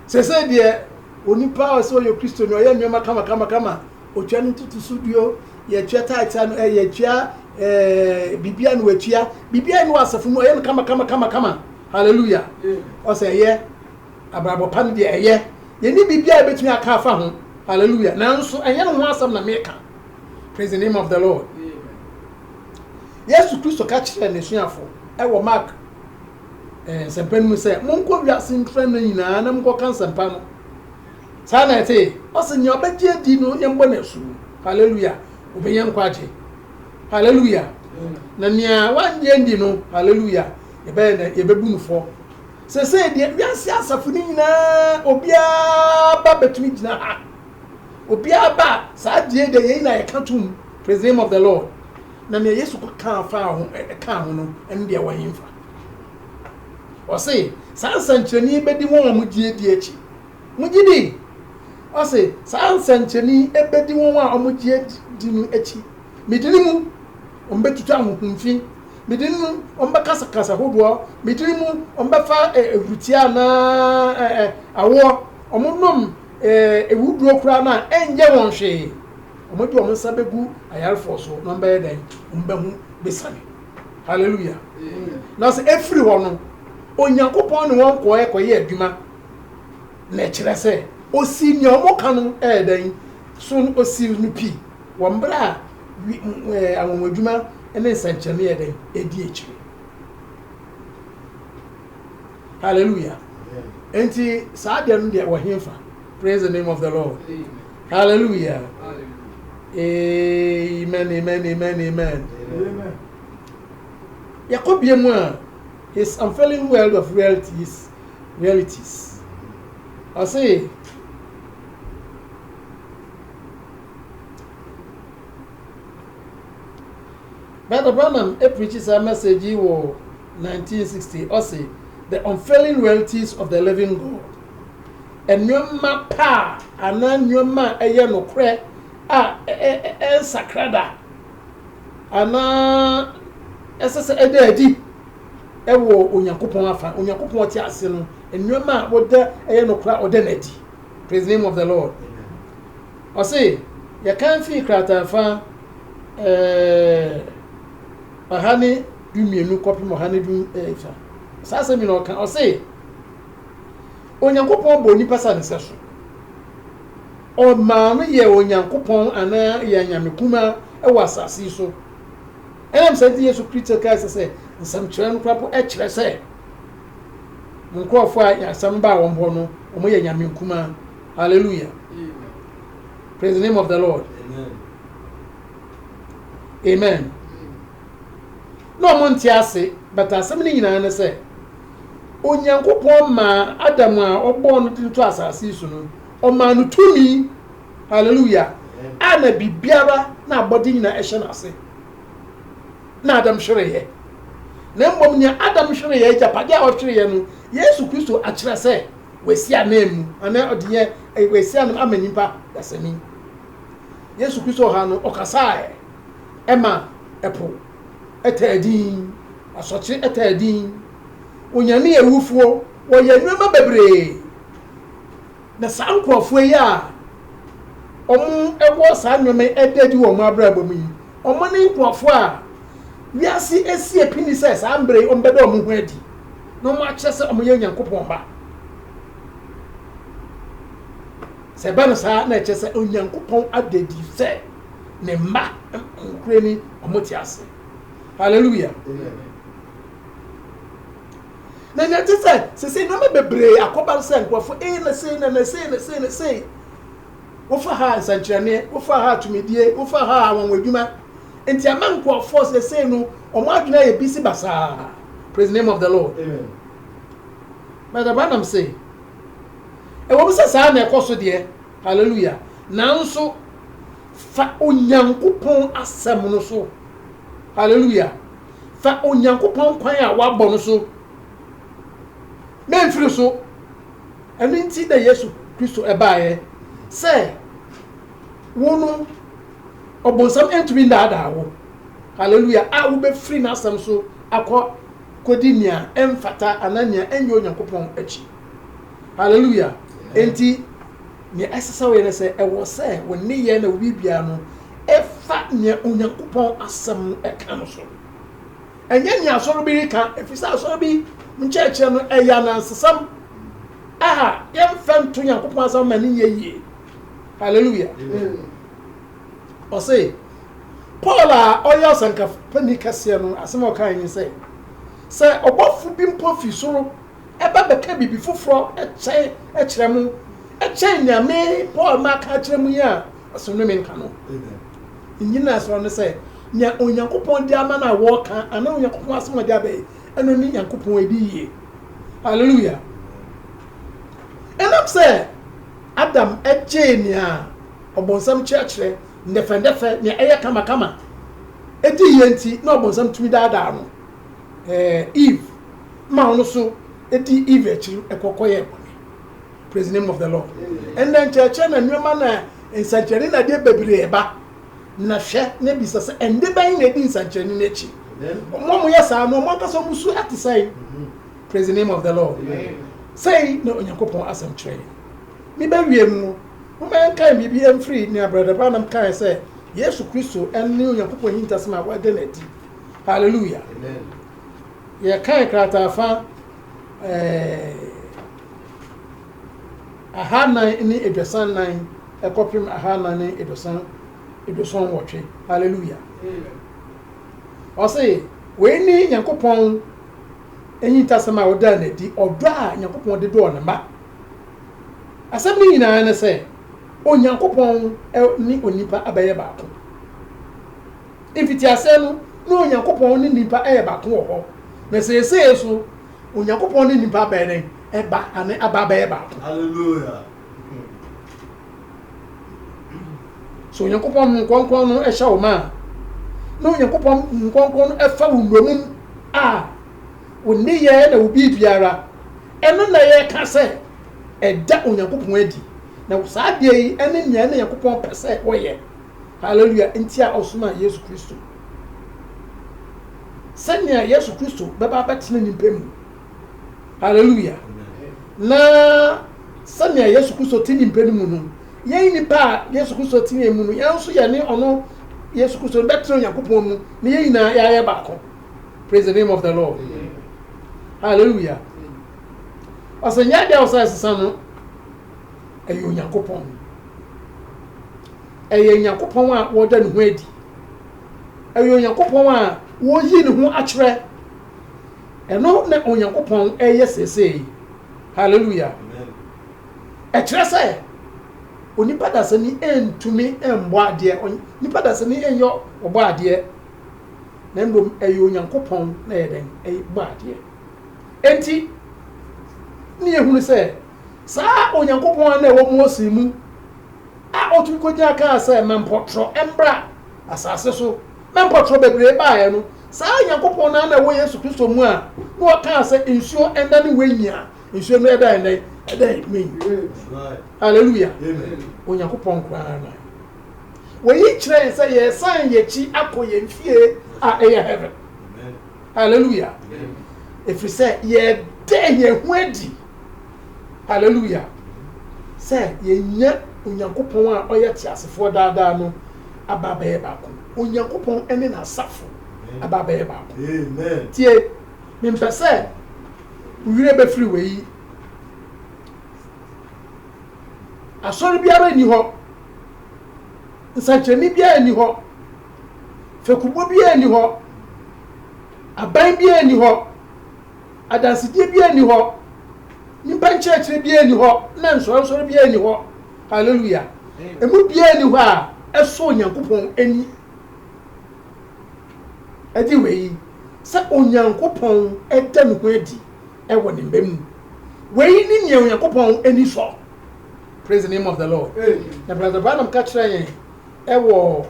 Sesei deɛ, onipa a ɔse ɔyɛ Kristoni, ɔyɛ nnoɔma kamakamakama, ɔtwa ne ntotoso duo, yɛtua tithes a no, eh, yɛtua eh, biribiara no watua, biribiara ne wɔ asafo mu, ɔyɛ no kamakamakama. Hallelujah. Ɔsɛ ɛyɛ, abrabɔ pa no deɛ ɛyɛ. Yɛni biribiara ɛbɛtumi aka afa ho. Hallelujah. Nanso, ɛnyɛ no ho asɛm na meka. Praise the name of the Lord. Yesu Kristo ka kyerɛɛ n'asuafo ɛwɔ Mark Eh, nsɛmpa no mu sɛ, Monkɔ wiase mprɛnna nyinaa na monkɔka nsɛmpa no. Saa na ɛte. Ɔse, Nea ɔbɛgye adi no, yɛmbɔ no asu. Hallelujah! Obenya nkwagye. Hallelujah! Na nea wannye andi no, Hallelujah! Yɛbɛyɛ dɛ, yɛbɛbu no fɔ. Sesei deɛ, wiase asafo no nyinaa, obiara ba bɛtumi gyina ha. Obiara ba a, saa adeɛ deɛ yɛn nyinaa yɛka tom, Praise the name of the Lord. Na nea Yesu kɔkaa faa ho, ɛkaa ho no, ɛno deɛ ɛwɔ hefa? Ɔse, saa nsɛnkyerɛnne yi bɛdi wɔn a wɔgye adi akyi. Mogye di? Ɔse, saa nsɛnkyerɛnne yi bɛdi wɔn a wɔgye adi no akyi. Me dini mu, wɔbɛtutu ahonhom fi. Me dini mu, wɔbɛkasa kasa hodoɔ. Me dini mu, wɔbɛfa ahurutia anaa awoɔ. Wɔnom awuduro koraa no a, ɛnyɛ wɔn hwee. wɔde wɔn nsa bɛgu ayarefoɔ so na wɔbɛyɛ dɛn wɔn bɛho bɛsane hallelujah na sɛ ɛfiri hɔ no onyankopɔn ne wɔn kɔɛ kɔyɛ adwuma na ɛkyerɛ sɛ ɔsii nea wɔn ka no ɛyɛ dɛn so ɔsii no pii wɔ mmerɛ a anwanwadwuma ne nsɛnkyerɛnne yɛ dɛn ɛdi akyire hallelujah enti saa deɛ no deɛ wɔhemfa praise the name of the lord Amen. Hallelujah Amen Amen Amen Amen Yɛkɔ bia mu a His unfailing world of realities realities Ɔse Brother Branham ɛpirikyi saa message yi wɔ 1960 ɔse The unfailing realities of the living God nneɛma pa anaa nneɛma a ɛyɛ nokorɛ a ɛnsakra da anaa ɛsɛ sɛ ɛda adi wɔ Onyankopɔn afa. Onyankopɔn ɔte ase no, nneɛma a wɔda ɛyɛ nokorɛ a ɔda no adi. Praise the name of the Lord. Ɔse, yɛkan fii krataa fa eh, ɔha ne dumienu kɔpem ɔha ne du eh, saa asɛm yi na ɔka ɔse Onyankopɔn bɔɔ nipa sɛ ne sɛso. Ɔmaa no yɛɛ Onyankopɔn anaa yɛn anyame kumaa wɔ asase yi so. Ɛnam saa nti Yesu Kristo kae sɛ sɛ nsɛmkyerɛ no koraa mpo kyerɛ sɛ mo nkurɔfoɔ a asɛm no baa wɔn hɔ no wɔyɛ anyame nkumaa. Hallelujah. Praise the name of the Lord. Amen. Amen. No wɔn nte ase, but asɛm no nyinaa ne sɛ Onyankopɔn maa Adam a ɔbɔɔ no tiri to asase yi so no, ɔmaa no tumi, hallelujah, a na biribiara na abɔde nyinaa ɛhyɛ n'ase. Na Adam hwereeɛ. Na mmom nea Adam hwereeɛ, agyapadeɛ a ɔhwereeɛ no, Yesu Kristo akyerɛ sɛ wasi ananmu, anaa ɔde yɛ eh, wasi anam ama nipa dasani. Yesu Kristo ɔha no, ɔkasaeɛ ɛma ɛpo. taa din, asɔkye taa din, onyame awufoɔ, wɔyɛ nneɛma bebree. Na saa nkurɔfoɔ yi a wɔn wɔ saa nneɛma yi ɛda adi wɔ wɔn abrabɔ mu yi, wɔn ne nkurɔfoɔ a wiase asi apini sɛ saa mbrɛ yi wɔn bɛda wɔn ho adi na wɔn akyerɛ sɛ wɔn yɛ Nyankopɔn ba. Sɛ ɛba no saa na ɛkyɛ sɛ Onyankopɔn adadi sɛ ne mma nkorɛ ni ɔmo te ase hallelujah na nea ɛte sɛ sese nneɛma bebree akɔba no sɛ nkurɔfo ee na sei na na sei na sei na sei wofa ha nsɛnkyerɛnne wofa ha tumidie wofa ha anwanwa adwuma nti ama nkurɔfoɔ sese no wɔn adwene ayɛ bisi basaa praise the name of the lord bɛdɛ branam se ɛwɔ mu sɛ saa na ɛkɔ so deɛ Hallelujah! Nanso fa Onyankopɔn Asɛm no so. Hallelujah! Fa Onyankopɔn kwan a wabɔ no so. Memfiri so. Ɛno nti na Yesu Kristo baeɛ sɛ wo no ɔbonsam ntumi nnaadaa wo, hallelujah, a wobɛfiri n'asɛm so akɔ kɔdi nea ɛmfata anaa nea ɛnyɛ Onyankopɔn akyi. Hallelujah. Enti nea ɛsɛ sɛ woyɛ ne sɛ ɛwɔ sɛ wo nneyɛe na wo biribiara no ɛfa nea Onyankopɔn asɛm no ɛka no so. Ɛnyɛ nea asɔre bi reka, efisɛ asɔre bi nkyerɛkyerɛ no ɛyɛ anansesɛm a yɛmfa nto Onyankopɔn asɛm ma ne nyɛ yie. Hallelujah. Ɔse Paul a ɔyɛ ɔsɛnkafo panyin kɛseɛ no asɛm a ɔkae ne sɛ sɛ ɔbɔfo bi mpo fi soro ba bɛka biribi foforɔ kyɛn kyerɛ mo kyɛn nea me Paul maka akyerɛ mo yi a, ɔsonne me nka no. Nnyinasoɔ no sɛ, nea Onyankopɔn de ama no a wɔka anaa Onyankopɔn asɛm a ɔde aba yi, ɛno ne Nyankopɔn ɛdi yie. Hallelujah. Ɛnam sɛ Adam gyee nea ɔbonsam kyerɛkyerɛ ndɛfɛndɛfɛ, nea ɛyɛ kamakama, ɛdi yie nti, na ɔbonsam tumi daadaa no. eh, Eve, ma ɔno so di Eve akyiri ɛkɔ kɔyɛ bɔne. Praise the name of the Lord. Ɛnna nkyerɛkyerɛ na nneɛma na nsɛnkyerɛnne na adeɛ bebree ba. Na hwɛ na bisa sɛ ɛnde bɛn na ɛdi nsɛnkyerɛnne no akyi. Wɔn a wɔyɛ saa no, wɔn ankasa wɔn su ate sɛn. Praise the name of the Lord. Sɛn na Onyankopɔn asɛm kyerɛ yɛn. Ne bɛwie mu no, moma yɛnkan biribi mfiri nea Brada Branham kae sɛ Yesu Kristo ne Onyankopɔn ahintasɛm a wɔada no adi Hallelujah. Amen. Yɛkae krataafa eh, ahanan ne aduasa nnan ɛkɔpem ahanan ne aduasa aduasa nwɔtwe. Hallelujah. Ɔse, wei ne Nyankopɔn enyintasɛm a ɔdaa n'adi, ɔdɔ a Nyankopɔn de dɔɔ ne ma. Asɛm no nyinaa ne sɛ, Onyankopɔn ne onipa abɛyɛ baako. Mfitiase no, na Onyankopɔn ne nnipa yɛ baako wɔ hɔ, na seesei nso, Onyankopɔn ne nnipa abɛyɛ dɛn? Ɛba, ane aba abɛyɛ baako. Hallelujah! Sɛ Onyankopɔn Honhom Kronkron no hyɛ wo ma a, na Onyankopɔn Honhom Kronkron no ɛfa wo nnommum a, wo nneyɛɛ na wo biribiara, ɛno na ɛyɛ ka sɛ ɛda Onyankopɔn adi, na saa adeɛ yi ɛne nea ɛne Nyankopɔn pɛ sɛ wɔyɛ Hallelujah! Nti a ɔsomaa Yesu Kristo. Sɛnea Yesu Kristo bɛba abɛtena nnipa mu. Hallelujah! Na sɛnea Yesu Kristo te nnipa no mu no, yɛn nnipa a Yesu Kristo te yɛn mu no, yɛn nso yɛne ɔno Yesu Kristo no bɛtena Onyankopɔn mu, na yɛn nyinaa yɛayɛ baako. Praise the name of the Lord. Hallelujah! Ɔsɛ nyɛ adeɛ a ɔsɛ ɛsesa no. ɛyɛ Onyankopɔn. Ɛyɛ Onyankopɔn a wɔda ne ho adi. Ɛyɛ Onyankopɔn a wɔyi ne ho akyerɛ. Ɛno na Onyankopɔn ɛyɛ seesei. Hallelujah. Ɛkyerɛ sɛ onipa dasani ntumi mbɔ adeɛ, onipa dasani nyɛ ɔbɔ adeɛ, na mmom ɛyɛ Onyankopɔn na ɛyɛ dɛn ɛbɔ adeɛ. Enti ne yɛhunu sɛ. Saa Onyankopɔn a na ɛwɔ Mose mu a otumi kogyina kaa sɛ, Ma mpɔtorɔ mmra asase so, na mpɔtorɔ bebree baeɛ no, saa Onyankopɔn no ara na ɛwɔ Yesu Kristo mu a na ɔkaa sɛ, Nsuo nnane wenyin a nsuo no ɛdan dɛn? Ɛdan eduma yi. Haleluya! Onyankopɔn nko ara na ɛwɔ. Wɔyi kyerɛ yɛn sɛ yɛresan yɛn akyi akɔ yɛn fie a ɛyɛ heaven. Haleluya! Ɛfiri sɛ yɛda yɛn ho adi. Haleluia! Sɛ yɛanya Onyankopɔn a ɔyɛ teasefoɔ daa daa no aba abɛyɛ baako. Onyankopɔn ne N'asafo aba abɛyɛ baako. Tie, mempɛ sɛ wo werɛ bɛfiri wei. Asɔre biara nni hɔ, nsɛnkyerɛnne biara nni hɔ, fekubɔ biara nni hɔ, aban biara nni hɔ, Adansedie biara nni hɔ, nnipa nkyerɛkyerɛ biara nni hɔ, na nsɔrensɔre biara nni hɔ, hallelujah, ɛmu biara nni hɔ a ɛsɔ Onyankopɔn ani. Ɛgye wei sɛ Onyankopɔn da ne ho adi wɔ ne mma mu. Wei ne nea Onyankopɔn ani sɔ. Praise the name of the Lord. Na Brother Branham ka kyerɛ yɛn ɛwɔ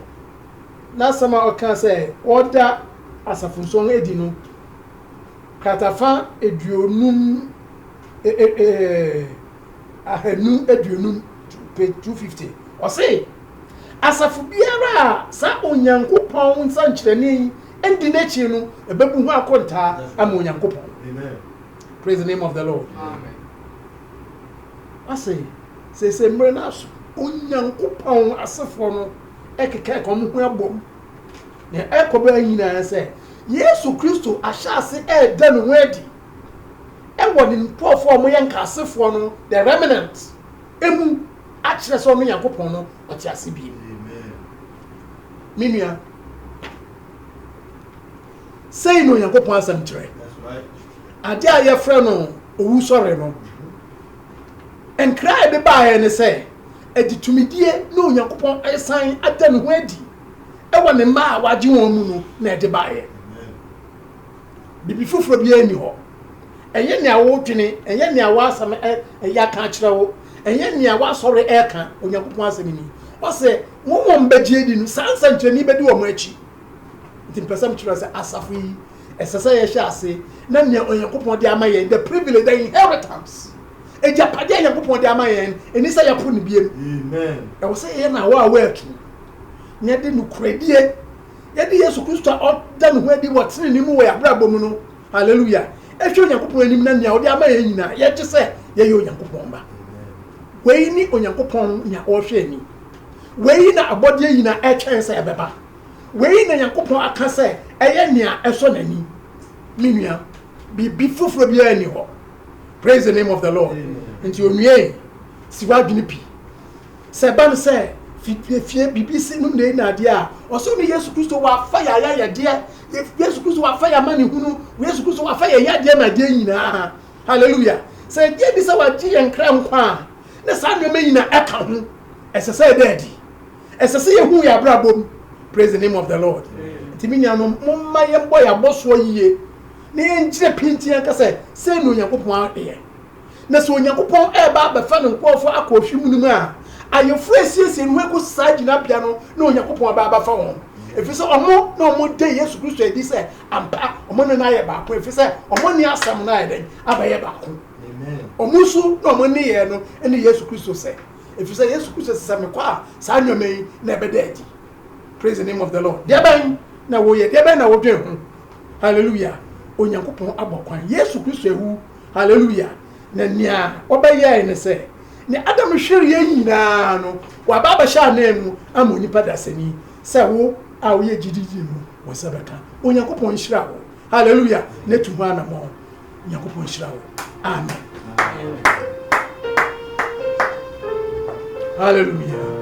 n'asɛm a ɔka sɛ ɔda asafo nsɔn adi no, Kratafa aduonum, ahanu aduonum, page two fifty. Ɔse, Asafo biara a saa Onyankopɔn nsankyerɛnne yi ndi n'akyi no ɛbɛbu ho akontaa ama Onyankopɔn. Praise the name of the Lord. Ɔse, Seesei mmere no aso. Onyankopɔn asefoɔ no ɛkeka ɛka wɔn ho abom. Nea ɛkɔba nyinaa sɛ Yesu Kristo ahyɛ ase reda ne ho adi wɔ ne nkurɔfoɔ a wɔyɛ nkaasefoɔ no, the remnant, mu akyerɛ sɛ ɔno Nyankopɔn no ɔte ase bio. Me nua, sei na Onyankopɔn asɛm kyerɛ. Adeɛ a yɛfrɛ no owusɔre no, nkra a ɛde baeɛ ne sɛ, ɛde tumidie ne Onyankopɔn asan ada ne ho adi. ɛwɔ ne mma a wagye wɔn mu no na ɛde baeɛ. Biribi foforɔ biara nni hɔ. Ɛnyɛ nea wodwene, ɛnyɛ nea w'asɛm ɛyɛ aka akyerɛ wo, ɛnyɛ nea w'asɔre ɛka, Onyankopɔn asɛm ni. Ɔsɛ, wɔn wɔn bɛgye adi no, saa nsɛnkyerɛnne bɛdi wɔn akyi. Nti mpɛ sɛ mekyerɛ sɛ asafo yi, ɛsɛ sɛ yɛhyɛ ase na nea Onyankopɔn de ama yɛn, the privilege, the inheritance, agyapadeɛ a Onyankopɔn de ama yɛn, ɛni sɛ yɛpo no biam. Ɛwɔ sɛ yɛyɛ no awɔ awɔ atu. na yɛde nokorɛdie, yɛde Yesu Kristo a ɔda ne ho adi wɔ tenenee mu wɔ yɛn abrabɔ mu no, hallelujah, ɛhwɛ Onyankopɔn anim na nea ɔde ama yɛn nyinaa yɛgye sɛ yɛyɛ Onyankopɔn ba. Wei ne Onyankopɔn nea ɔrehwɛ ani. Wei na abɔdeɛ nyinaa ɛtwɛn sɛ ɛbɛba. Wei na Onyankopɔn aka sɛ ɛyɛ nea ɛsɔ n'ani. Me nua, biribi foforɔ biara nni hɔ. Praise the name of the Lord. Nti onua yi, si w'adwene pi. Sɛ ɛba no sɛ fitiefie biribi si no nnɛyi nnadeɛ a, ɔsoro ne Yesu Kristo wafa yɛn ayayɛdeɛ, Yesu Kristo wafa yɛn amanehunu, Yesu Kristo wafa yɛn yadeɛ ne adeɛ nyinaa. Hallelujah! Sɛ yɛgye adi sɛ wagye yɛn kra nkwa a, na saa nneɛma nyinaa ɛka ho. Ɛsɛ sɛ ɛda adi. Ɛsɛ sɛ yɛhu yɛn abrabɔ mu. Praise the name of the Lord. Nti me nuanom, momma yɛmmɔ yɛn abɔsoɔ yie na yɛnkyerɛ pintinn anka sɛ, sei na Onyankopɔn ayɛ. Na sɛ Onyankopɔn reba abɛfa ne nkurɔfo akɔ ɔhwe mu no mu a, ayeforo a esiesie ne ho agu saa gyinabea no na Onyankopɔn aba abɛfa wɔn, efisɛ wɔn na wɔgye Yesu Kristo adi sɛ ampa wɔn ne no ayɛ baako, efisɛ wɔn ne asɛm no ayɛ dɛn? Abɛyɛ baako. Wɔn su ne wɔn nneyɛe no ne Yesu Kristo sɛ, efisɛ Yesu Kristo se, sɛ mekɔ a, saa nneɛma yi na ɛbɛda adi. Praise the name of the Lord. Deɛ bɛn na woyɛ? Deɛ bɛn na wodwen ho? Hallelujah. Onyankopɔn abɔ kwan. Yesu Kristo awu Hallelujah! Na nea ɔbɛyɛe ne sɛ, nea Adam hwereɛ nyinaa no, waba abɛhyɛ ananmu ama onipa dasani, sɛ wo a woyɛ gyididi no, wo nsa bɛka. Onyankopɔn nhyira wo. Hallelujah! Na tu ho anamɔn. Nyankopɔn nhyira wo. Amen. Hallelujah!